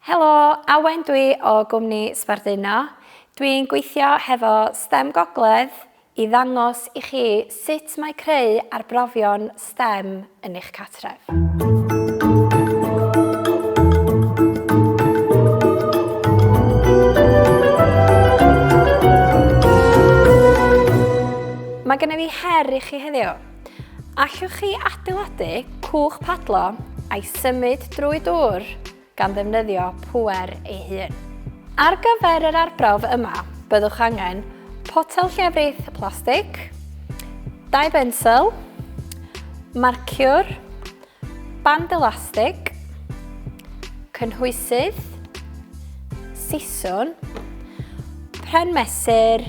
Helo, Awen dwi o gwmni Sbarduno. Dwi'n gweithio hefo stem Gogledd i ddangos i chi sut mae creu arbrofion stem yn eich cartref. Mae gennyf fi her i chi heddiw. Allwch chi adeiladu cwch padlo a'i symud drwy dŵr gan ddefnyddio pŵer ei hun. Ar gyfer yr arbrawf yma, byddwch angen potel llefrith plastig, dau bensel, marciwr, band elastig, cynhwysydd, siswn, pren mesur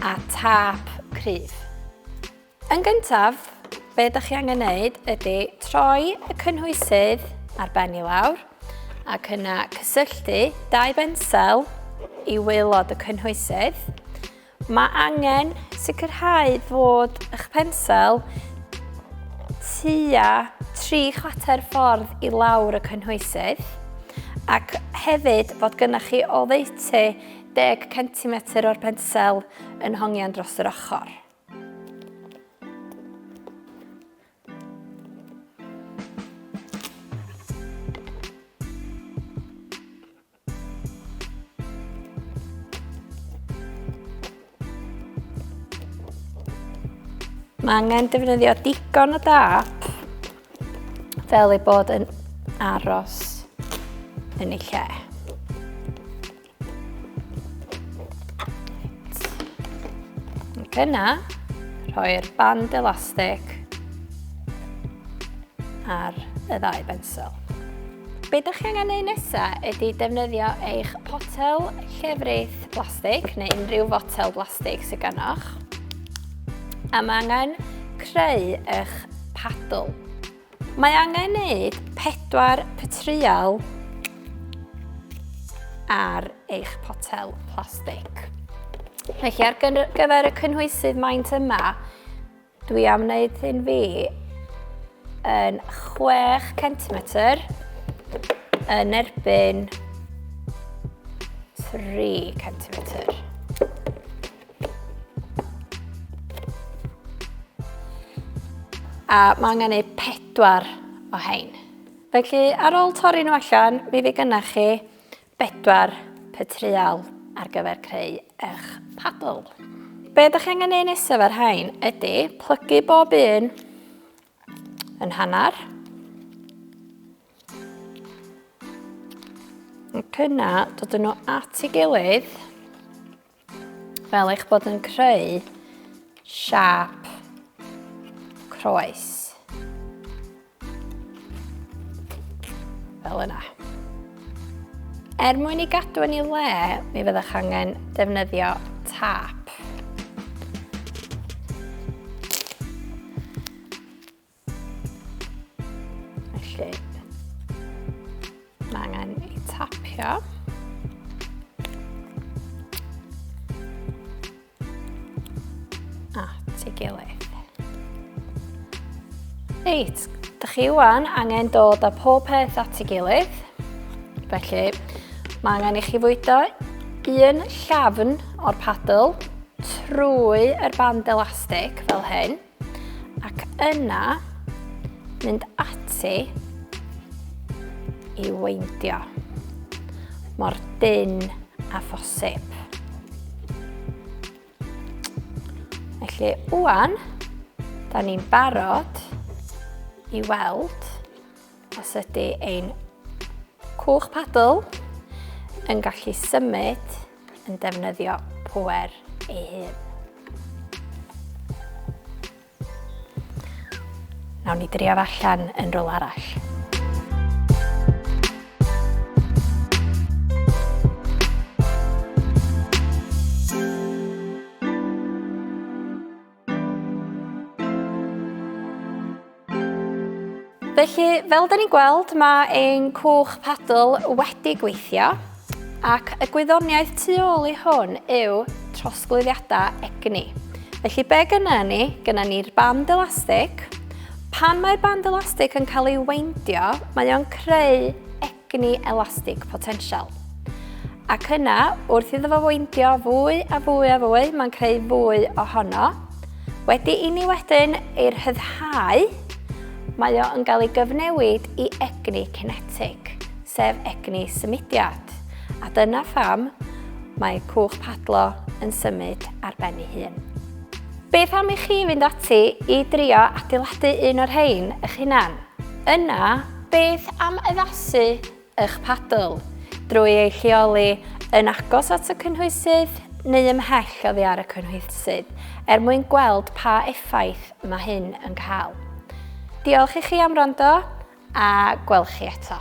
a tap cryf. Yn gyntaf, be ydych chi angen wneud ydy troi y cynhwysydd ar ben i lawr ac yna cysylltu dau bensel i waelod y cynhwysydd. Mae angen sicrhau fod eich pensel tua tri chwater ffordd i lawr y cynhwysydd ac hefyd fod gynnwch chi oddeutu 10 cm o'r pensel yn hongian dros yr ochr. Mae angen defnyddio digon o dap fel ei bod yn aros yn ei lle. Yna, rhoi'r band elastig ar y ddau bensel. Be ydych chi angen ei nesaf ydy defnyddio eich potel llefrith blastig neu unrhyw fotel blastig sydd ganoch. A mae angen creu eich paddle. Mae angen gwneud pedwar pytreial ar eich potel plastig. Felly ar gyfer y cynhwysydd maint yma, dwi am wneud hyn fi yn 6 centimetr yn erbyn 3 centimetr. A mae angen ei pedwar o hein. Felly, ar ôl torri nhw allan, mi fi gynnach chi bedwar petreal ar gyfer creu eich paddle. Be ydych chi angen ei nesaf ar hain ydy plygu bob un yn hanner. Ac yna, dod nhw at ei gilydd Fel eich bod yn creu siap croes. Fel yna. Er mwyn i gadw yn ei le, mi fyddwch angen defnyddio tap. Felly, mae angen ei tapio. A, ti gilydd. Reit, da chi wan angen dod â pob peth at ei gilydd. Felly, mae angen i chi fwydo un llafn o'r padl trwy yr band elastig fel hyn. Ac yna, mynd ati i weindio mor dyn a phosib. Felly, wwan, da ni'n barod i weld os ydy ein cwch padl yn gallu symud yn defnyddio pŵer ei hun. Nawn ni drio allan yn rôl arall. Felly, fel da ni'n gweld, mae ein cwch padl wedi gweithio ac y gwyddoniaeth tu ôl i hwn yw trosglwyddiadau egni. Felly be gyna ni? Gyna ni'r band elastig. Pan mae'r band elastig yn cael ei weindio, mae o'n creu egni elastig potensial. Ac yna, wrth iddo fo weindio fwy a fwy a fwy, mae'n creu fwy ohono. Wedi i ni wedyn ei rhyddhau, mae o yn cael ei gyfnewid i egni cinetig, sef egni symudiad. A dyna pham mae cwch padlo yn symud ar ben ei hun. Beth am i chi fynd ati i drio adeiladu un o'r rhain eich hunan? Yna, Beth am addasu eich padl drwy ei lleoli yn agos at y cynhwysydd neu ymhell oddi ar y cynhwysydd er mwyn gweld pa effaith mae hyn yn cael? Diolch i chi am wrando a gweld chi eto.